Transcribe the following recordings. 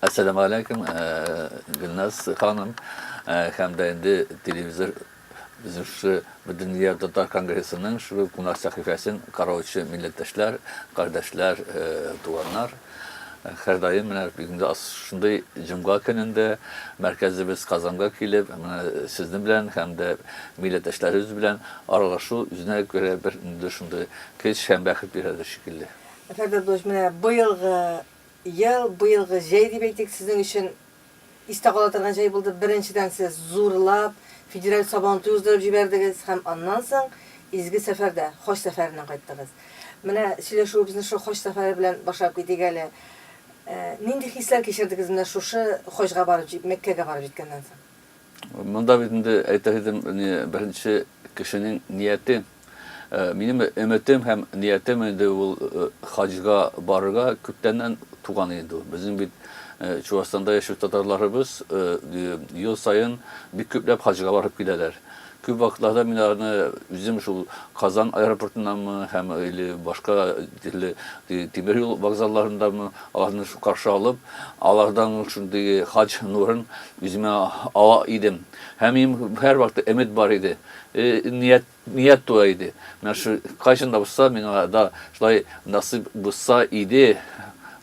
Әссәламү аләйкүм, Гөлназ ханым, һәм дә инде телевизор Үзешче Бөтендөнья татар конгрессының шул кунак сәхифәсен караучы милләттәшләр, кардәшләр, туганнар. Һәрдаим менә бүгенге шундый җомга көнендә мәркәзебез Казанга килеп, менә сезнең белән һәм дә милләттәшләребез белән аралашу үзенә күрә бер инде шундый көч һәм бәхет бирәдер шикелле. Фәрдәдүш, менә быелгы Ел, быелгы җәй дип әйтик, сезнең өчен истә кала торган җәй булды. Беренчедән, сез зурлап федераль Сабантуй уздырып җибәрдегез һәм аннан соң изге сәфәрдә, хаҗ сәфәреннән кайттыгыз. Менә сөйләшүебезне шул хаҗ сәфәре белән башлап китик әле. Нинди хисләр кичердегез менә шушы хаҗга барып, Мәккәгә барып җиткәннән соң? Монда бит инде әйтер идем, не беренче кешенең нияте. Минем өметем һәм ниятем инде ул хаҗга барырга күптәннән туган инде. Безнең бит Чувашстанда яшәү татарларыбыз ел саен бик күпләп хаҗга барып киләләр. Күп вакытларда мин аларны үзем шул Казан аэропортыннанмы һәм или башка төрле тимер юл вокзалларындамы аларны каршы алып, алардан шундый хаҗ нурын үземә ала идем. Һәм минем һәрвакыт өмет бар иде, ният, ният туа иде. Менә шу кайчан да булса миңа да шулай насыйп булса иде,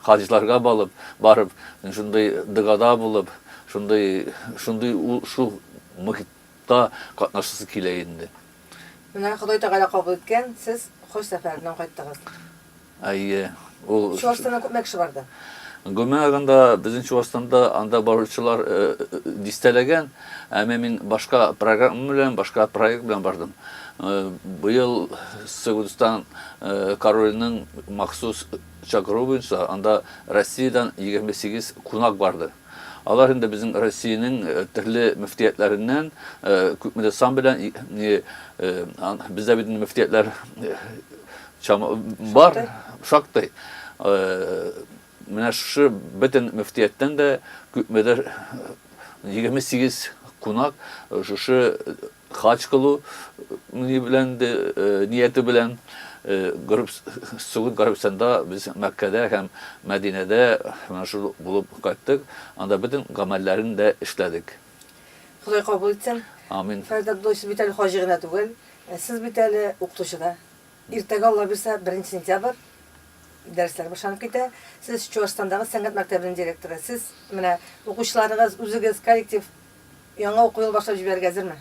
хаҗларга балып, барып, шундый догада булып, шундый, шундый ул шул мохит, Та катнашасы килә инде. Менә Ходай Тәгалә кабул иткән, сез хаҗ сәфәреннән кайттыгыз. Әйе, ул. Чуашстаннан күпме кеше барды? Гомумән алганда, безнең Чуашстанда анда баручылар дистәләгән, әмма мин башка программа белән, башка проект белән бардым. Быел Сәгудстан короленең махсус чакыруы буенча анда Россиядән 28 кунак барды. Алар инде безнең Россиянең төрле мөфтиятләреннән, күпмедер сан белән, бездә бит инде мөфтиятләр бар, шактый. Менә шушы бөтен мөфтияттән дә күпмедер 28 кунак шушы Хаҗ кылу ни белән инде, нияте белән Горб Согуд Горбсанда без Мәккәдә һәм Мәдинәдә менә шул булып кайттык, анда бөтен гамәлләрен дә эшләдек. Ходай кабул итсен. Амин. Фәрит Абдуллович, сез бит әле хаҗи гына түгел, сез бит әле укытучы да. Иртәгә, Алла бирсә, беренче сентябрь, дәресләр башланып китә. Сез Чуашстандагы сәнгать мәктәбенең директоры. Сез менә укучыларыгыз, үзегез, коллектив, Яңа уку ел башлап җибәрергә әзерме?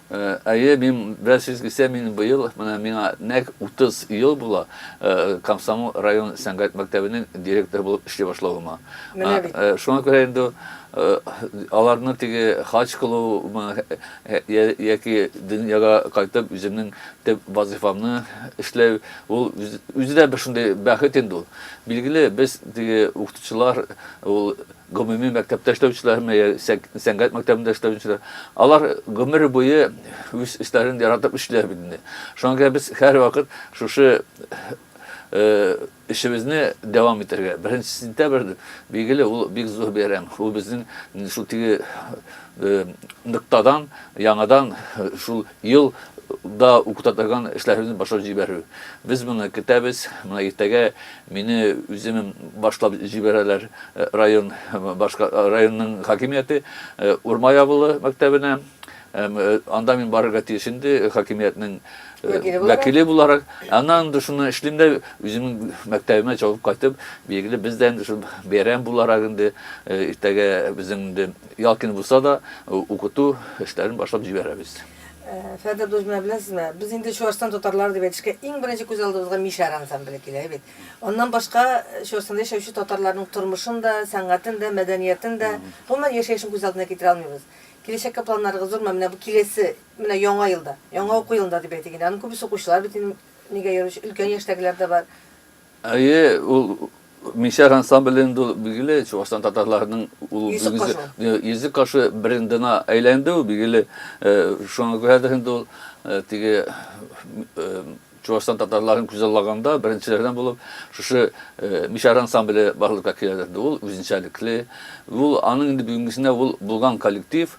Әйе, мин бераз сизгесә, мин быел, менә миңа нәкъ 30 ел була, Комсомол район сәнгать мәктәбенең директоры булып эшли башлавыма. Менә бит. Шуңа күрә инде аларны теге хаҗ кылуымы яки дөньяга кайтып үземнең төп вазыйфамны эшләү, ул үзе дә бер шундый бәхет инде ул. Билгеле, без теге укытучылар, ул гомуми мәктәптә эшләүчеләрме, йә сәнгать мәктәбендә эшләүчеләр, алар гомер буе үз эшләрен яратып эшлиләр бит инде. Шуңа күрә без һәрвакыт шушы эшебезне дәвам итәргә. Беренче сентябрь, билгеле, ул бик зур бәйрәм. Ул безнең шул теге ноктадан яңадан шул Ел да укытатаган эшләребезне башлап җибәрү. Без моны көтәбез. Менә иртәгә мине үземем башлап җибәрәләр район башка районның хакимияте Урмай авылы мәктәбенә. Анда мин барырга тиеш инде хакимиятнең вәкиле буларак. Аннан инде шуны эшлим дә үземнең мәктәбемә чабып кайтып, билгеле без дә инде шул бәйрәм буларак инде иртәгә безнең инде Ял көне булса да, укыту эшләрен башлап җибәрәбез. Фәрдә дус, менә беләсезме, без инде Чуашстан татарлары дип әйтешкә, иң беренче күз алдыбызга Мишәр ансамбле килә бит. Аннан башка Чуашстанда яшәүче татарларның тормышын да, сәнгатен дә, мәдәниятен дә, гомумән, яшәешен күз алдына китерә алмыйбыз. Киләчәккә планнарыгыз зурмы? Менә бу киләсе, менә яңа елда, яңа уку елында дип әйтик инде, аның күбесе укучылар бит инде, нигә йөрүче, өлкән яшьтәгеләр дә бар. Әйе, ул Мишәр ансамбле инде ул билгеле Чуашстан татарларының ул Йөзек кашы. Йөзек кашы брендына әйләнде ул билгеле. Шуңа күрә дә инде ул теге Чуашстан татарларын күзаллаганда беренчеләрдән булып шушы Мишәр ансамбле барлыкка килә дә. Ул үзенчәлекле, ул аның инде бүгенгесенә ул булган коллектив,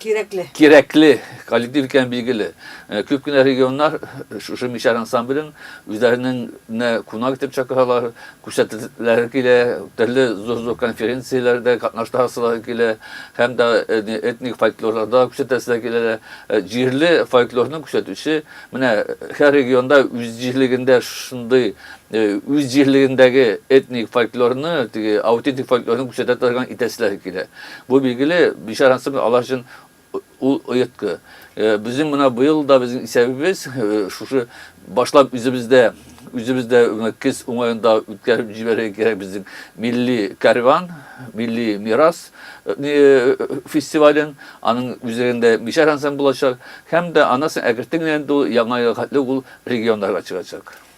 Кирәкле. Кирәкле коллектив икән билгеле. Э, күп кенә регионнар э, шушы мишәр ансамблен үзләренеңне кунак итеп чакыралар, күрсәтүләре килә, төрле зур-зур конференцияләрдә катнаштырасылары килә, һәм дә э, этник фольклорларда күрсәтәселәр килә. Җирле фольклорны күрсәтүче менә һәр регионда үз җирлегендә шундый үз җирлегендәге этник фольклорны, теге аутентик фольклорны күрсәтә торган итәселәре килә. Бу билгеле, Бишар ансамбле алар өчен ул оеткы. Безнең менә быел да безнең исәбебез шушы башлап үзебездә үзебездә кез уңаенда үткәреп җибәрергә кирәк безнең милли кәрван, милли мирас фестивален, аның үзегендә Бишар ансамбле булачак һәм дә аннан соң әкертен генә инде ул яңа елга хәтле ул регионнарга чыгачак.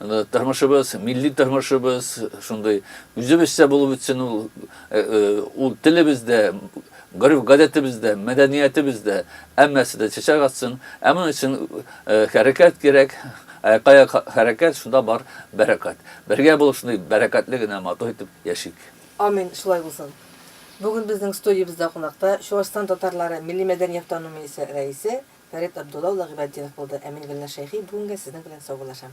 Тормышыбыз, милли тормышыбыз шундый. Үзебезчә булып үтсен ул. Ул телебез дә, гореф-гадәтебез дә, мәдәниятебез дә, һәммәсе дә чәчәк атсын. Ә моның өчен хәрәкәт кирәк. Аякка-аяк хәрәкәт, шунда бар бәрәкәт. Бергә булып шундый бәрәкәтле генә, матур итеп яшик. Амин, шулай булсын. Бүген безнең студиябездә кунакта Чуашстан татарлары милли мәдәният танымы исә рәисе Фәрит Абдулла улы Гыйбатдинов булды, ә мин Гөлназ Шәйхи бүгенгә сезнең белән саубуллашам.